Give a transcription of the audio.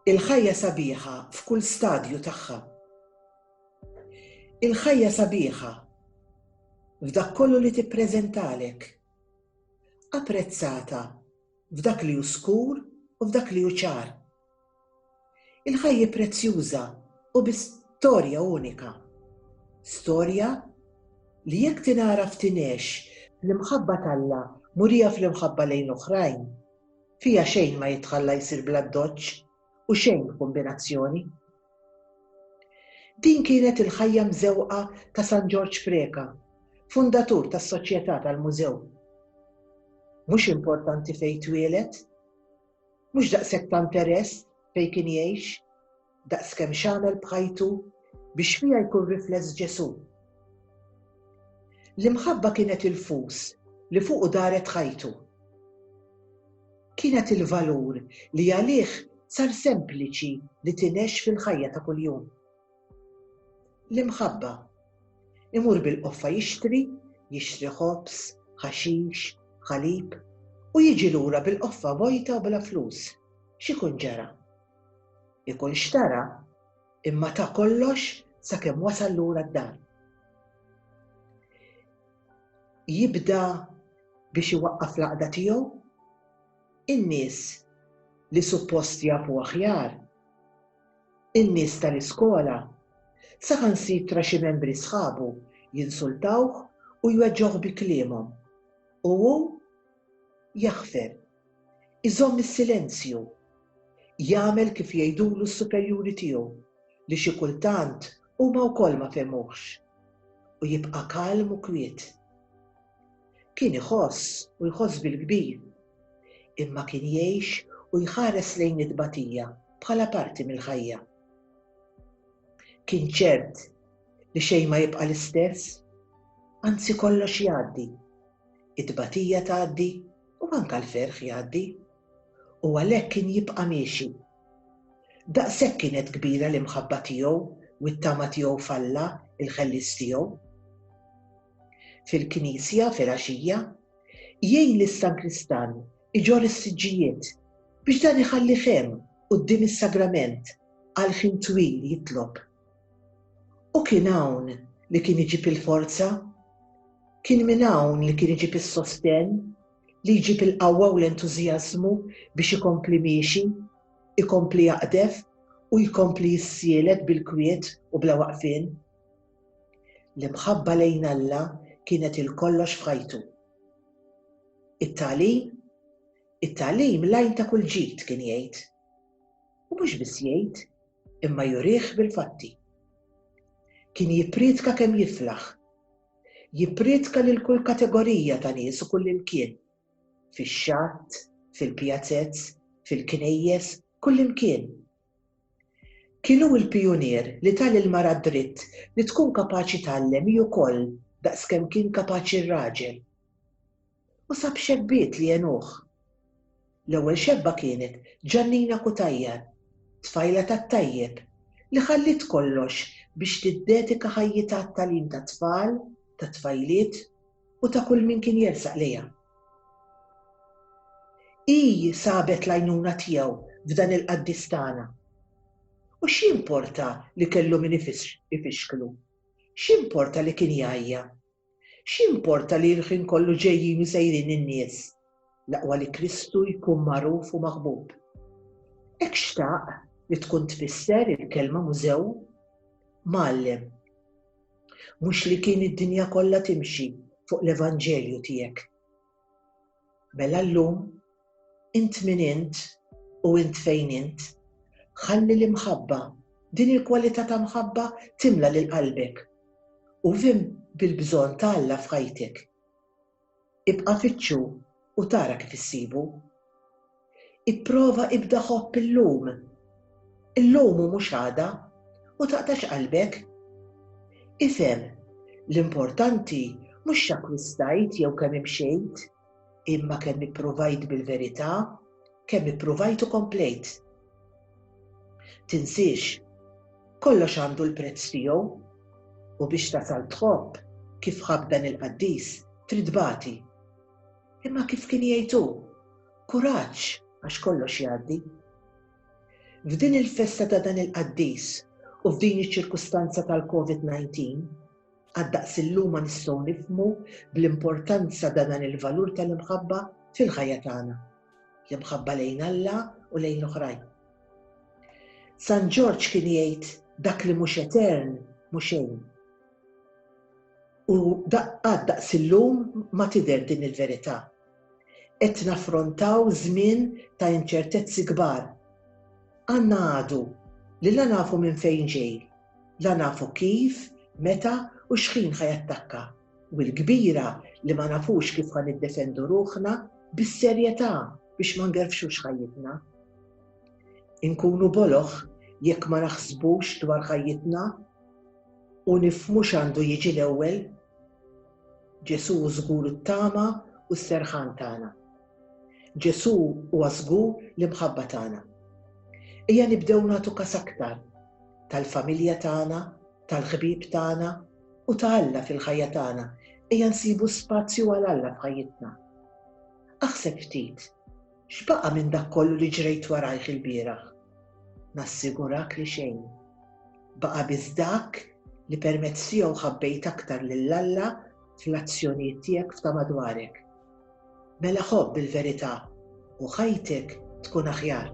Il-ħajja sabiħa f'kull stadju tagħha. Il-ħajja sabiħa f'dak kollu li tippreżentalek. Apprezzata f'dak li hu skur u f'dak li hu ċar. Il-ħajja prezzjuża u bi storja unika. Storja li jekk tingħaraf tingħex bl-imħabba t'Alla murija fl-imħabba lejn l-oħrajn. Fiha xejn ma jitħalla jsir bl-addoċċ u xejn b'kumbinazzjoni. Din kienet il-ħajja mżewqa ta' San Ġorġ Preca, fundatur tas-Soċjetà tal-Mużew. Mhux importanti fejn twieled? Mhux daqshekk ta' interess fejn kien jgħix, daqs kemm x'għamel b'ħajtu biex fiha jkun rifless Ġesù. L-imħabba kienet il-fus li fuqu daret ħajtu. Kienet il-valur li għalih sar sempliċi li tingħex fil-ħajja ta' kuljum. L-imħabba. Imur bil-qoffa jixtri, jixtri ħobż, ħaxix, ħalib, u jiġi lura bil-qoffa vojta u bla flus. X'ikun ġara? Ikun xtara, imma ta kollox sakemm wasal lura d-dar. Jibda biex iwaqqaf l-għaqda tiegħu? In-nies li suppost jafu aħjar in-nies tal-iskola, saħansitra xi membri sħabu jinsultawh u jweġġgħuh bi kliemhom. U hu jaħfer. Iżomm is-silenzju. Jagħmel kif jgħidulu s-superjuri tiegħu, li xi kultant huma wkoll ma fehmuhx. U jibqa' kalm u kwiet. Kien iħoss u jħoss bil-kbir, imma kien jgħix u jħares lejn it-tbatija bħala parti mill-ħajja. Kien ċert li xejn ma jibqa' l-istess, anzi kollox jgħaddi. It-tbatija tgħaddi u anke l-ferħ jgħaddi. U għalhekk kien jibqa' miexi. Daqshekk kienet kbira l-imħabba tiegħu u t-tama tiegħu f'Alla, il-Ħellies tiegħu. fil-knisja filgħaxija, jgħin lis-sankristan iġorr is-siġġijiet biex dan iħallih hemm quddiem is-sagrament għal ħin twil jitlob. U kien hawn li kien iġib il-forza, kien minn hawn li kien iġib is-sostenn, li jġib il-qawwa u l-entużjażmu biex ikompli miexi, ikompli jaqdef u jkompli jissielet bil-kwiet u bla waqfien. L-imħabba lejn Alla kienet il-kollox f'ħajtu. It-tagħlim? It-tagħlim l-għajn ta' kull ġid, kien jgħid. U mhux biss jgħid, imma jurih bil-fatti. Kien jippriedka kemm jiflaħ. Jippriedka lil kull kategorija ta' nies u kull imkien. Fix-xatt, fil-pjazez, fil-knejjes, kull imkien. Kien hu l-pijunier li ta lil mara d-dritt li tkun kapaċi tgħallem hi wkoll daqs kemm kien kapaċi r-raġel. U sab xebbiet li għenuh. L-ewwel xebba kienet Ġannina Cutajar, tfajla tat-tajjeb, li ħalliet kollox biex tiddedika ħajjitha għat-tagħlim tat-tfal, tat-tfajliet u ta' kull min kien jersaq lejha. Hi sabet l-għajnuna tiegħu f'dan il-qaddis tagħna. U x'jimporta li kellu min ifixklu? X'jimporta li kien jgħajja? X'jimporta li l-ħin kollu ġejjin u sejrin in-nies? l-aqwa li Kristu jkun magħruf u maħbub. Hekk xtaq li tkun tfisser il-kelma mużew? Mgħallem. Mhux li kien id-dinja kollha timxi fuq l-Evanġelju tiegħek. Mela llum, int min int u int fejn int, ħalli l-imħabba, din il-kwalità ta' mħabba timla lil qalbek u vim bil-bżonn ta' Alla f'ħajtek. Ibqa' fittxu u tara kif issibu. Ipprova ibda ħobb illum. Illum u mhux għada u taqtax qalbek. Ifhem, l-importanti mhux x'akkwistajt jew kemm imxejt, imma kemm ippruvajt bil-verità. kemm ippruvajt u komplejt. Tinsiex, kollox għandu l-prezz tiegħu u biex tasal tħobb kif ħabb dan il-qaddis trid tbati. Imma kif kien jgħid hu, kuraġġ għax kollox jgħaddi. F'din il-festa ta' dan il-qaddis u f'din iċ-ċirkustanza tal-COVID-19, għad-daqs illum ma nistgħu nifhmu bl-importanza ta' dan il-valur tal-imħabba fil-ħajja tagħna. l-imħabba lejn Alla u lejn l-oħrajn. San Ġorġ kien jgħid dak li mhux etern mhux xejn. U daqqad daqs illum ma tidher din il-verità. Qed naffrontaw żmien ta' inċertezzi kbar. Għandna għadu li la nafu minn fejn ġej, la nafu kif, meta u xħin ħajattakka. u l-kbira li ma nafux kif ħa niddefendu ruħna bis-serjetà biex ma ngerfxux ħajjitna. Inkunu boloh jekk ma naħsbux dwar ħajjitna u nifhmu x'għandu jiġi l-ewwel. Ġesù hu żgur it-tama u s-serħan tagħna. Ġesù huwa żgur l-imħabba tagħna. Ejja nibdew nagħtu kas aktar tal-familja tagħna, tal-ħbieb tagħna, u ta' Alla fil-ħajja tagħna, ejja nsibu spazju għal Alla f'ħajjitna. Aħseb ftit, x'baqa' minn dak kollu li ġrejt warajh ilbieraħ? Nassigurak li xejn. Baqa' biss dak li permezz tiegħu ħabbejt aktar lil Alla fl-azzjonijiet tiegħek f'ta' madwarek. Mela ħobb il-verità u ħajtek tkun aħjar.